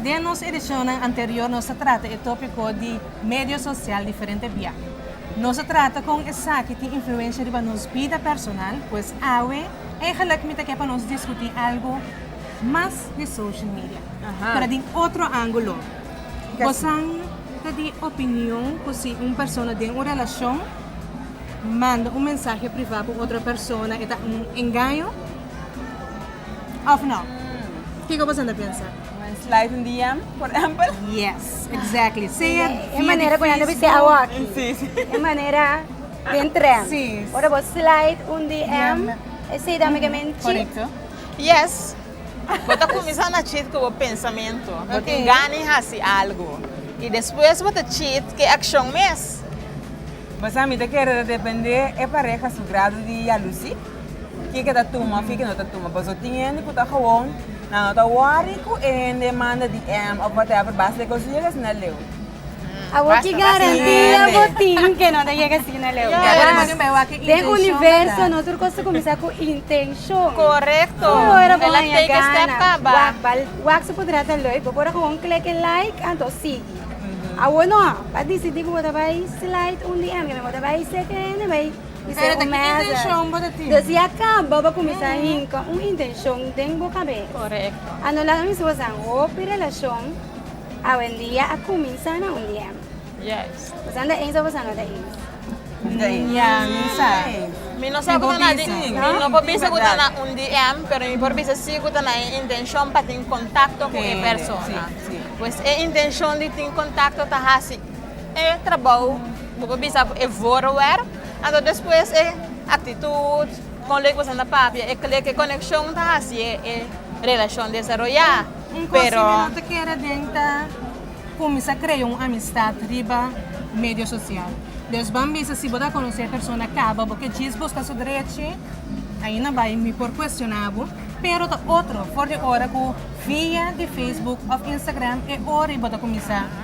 Den nos edicionnan anterior nos a trata e topico di medio social diferente bia. Nos a trata con esaki tin influencia riba nos bida personal, pues awe eigenlijk mi ta ke pa nos discuti algo mas di social media, pero den otro angulo. Bosan ta di opinion cu si un persona den un relacion manda un mensahe priva pa otro persona e ta un engaño? Of no? Kiko boso ta pensa? Nan slide un DM, por ehempel? Yes, exactly. Sea via di Facebook. Sí, sí. E manera den tren. Sí. Ora bo slide un DM, esei ta make men chit. Correcto. Yes. Bo ta cuminsa na chit cu bo pensamento. Okay. Bo tin gana di haci algo. Y despues bo ta chit cu e accion mes. Bo sa, mi ta kere ta depende e pareha su grado di jaloezie. Kiko ta tuma of kiko no ta tuma paso tin hende ku ta gewoon nan no ta worry ku e hende manda DM of whatever basta lek os yega asina leu. Abo ki garantia bo tin ke no ta yega asina leu. Den universo no tur kos ta kuminsá ku intenshon. Korekto. Ku ora bo haña gana wak bal wak su podrá ta lei bo por a gewoon kleke like anto sigui. Awor no, bo a disidí ku bo ta bai slide un DM, bo ta bai sete hende bai Pero de ki intenshon bo ta tin? Dos ya kaba bo kuminsá hinka un intenshon den bo kabes. Korekto. A no laga mi si bo sa hopi relashon awendia a kuminsá na un DM. Yes. Bosan ta ins of bosan no ta ins? Mi ta ins. Ya, mi sa. Mi no sa ku ta na di, mi no por bisa ku ta na un DM, pero mi por bisa si ku ta na e intenshon pa tin kontakto ku e persona. Pues e intenshon di tin kontakto ta hasi E trabou bo por bisa ku e voorwerp, anto despues e aktitut, kon lei ku boso na papia, e kle, ke konekshon ta hasié e relashon desaroyá. Un kos ke mi no ta kere den ta kuminsá krea un amistat riba medio sosial. Des ban bisa si bo ta konosé e persona kaba bo ke djis buska su drechi, ainda bai mi por kuestioná bo, pero ta otro for di ora ku via di Facebook òf Instagram e ora ei bo ta kuminsá.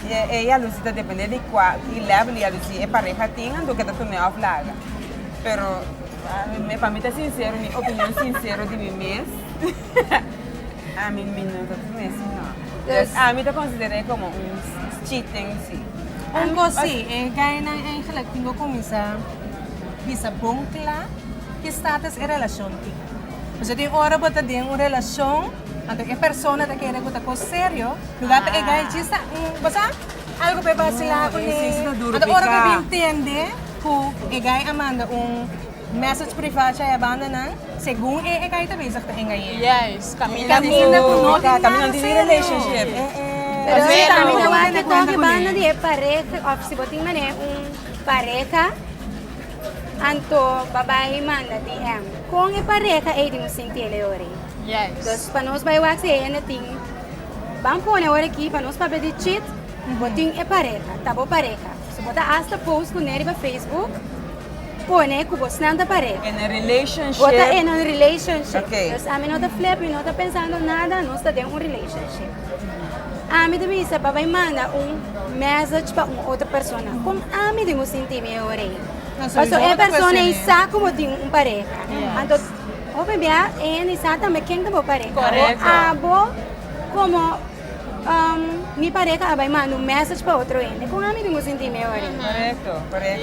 Di ei a luci ta depende di cua y level y a luci e pareha tin anto ke ta tune of laga. Pero me pa mi ta sincero, mi opinion sincero di mi mes, ami mi no ta tune si no. Des ami ta considere e como un cheating si. Un cos si, e gainan eigenlijk tin cu cuminsa bisa bon cla ki status e relacion tin. Pasobra tin ora bo ta den un relacion. Anto e persona ta kere ku ta kos serio luga pa e gai djis ta un bosa algu pa e basila kuné anto ora ku e bin tende ku e gai a manda un message priva chai a banda nan segun e e gai ta bezig ta engañ'é i kaminda ku no tin nada serio pero e ta un waki toki banda di e pareha òf si bo tin manera un pareha anto ba bai manda DM kon e pareha ei tin bo sinti e leo rei. Entonces pa nos bai wak si hende tin ban pone ora aki pa nos papia di chit bo tin e pareha ta bo pareha so bo ta hasta post kuné riba Facebook pone ku bosnan ta pareha en un relationship bo ta en un relationship okay entonces ami no ta flepi mi no ta pensando nada nos ta den un relationship ami ta bisa pa bai manda un message pa un otro persona kon ami tin bo sinti mi e ora ei paso e persona ei sa ku bo tin un pareha anto Bo mebia eén i sa tambe ken ta bo pareha. Bo abo komo mi pareha a bai manda un message pa otro hende. Kon ami bin a sinti mi ahori? Korekto, korekto.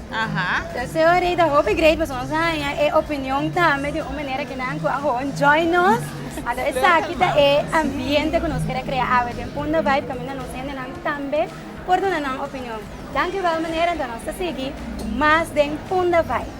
Aha. Seo Rey ta hopi great pasobra nos a haña e opinion tambe di un manera ku nan a hoon join nos. Anto esaki ta e ambiente ku nos kere krea awe den Punda Vibe kaminda nos hendenan tambe por duna nan opinion. Dankievel meneer anto nos ta sigui ku mas den Punda Vibe.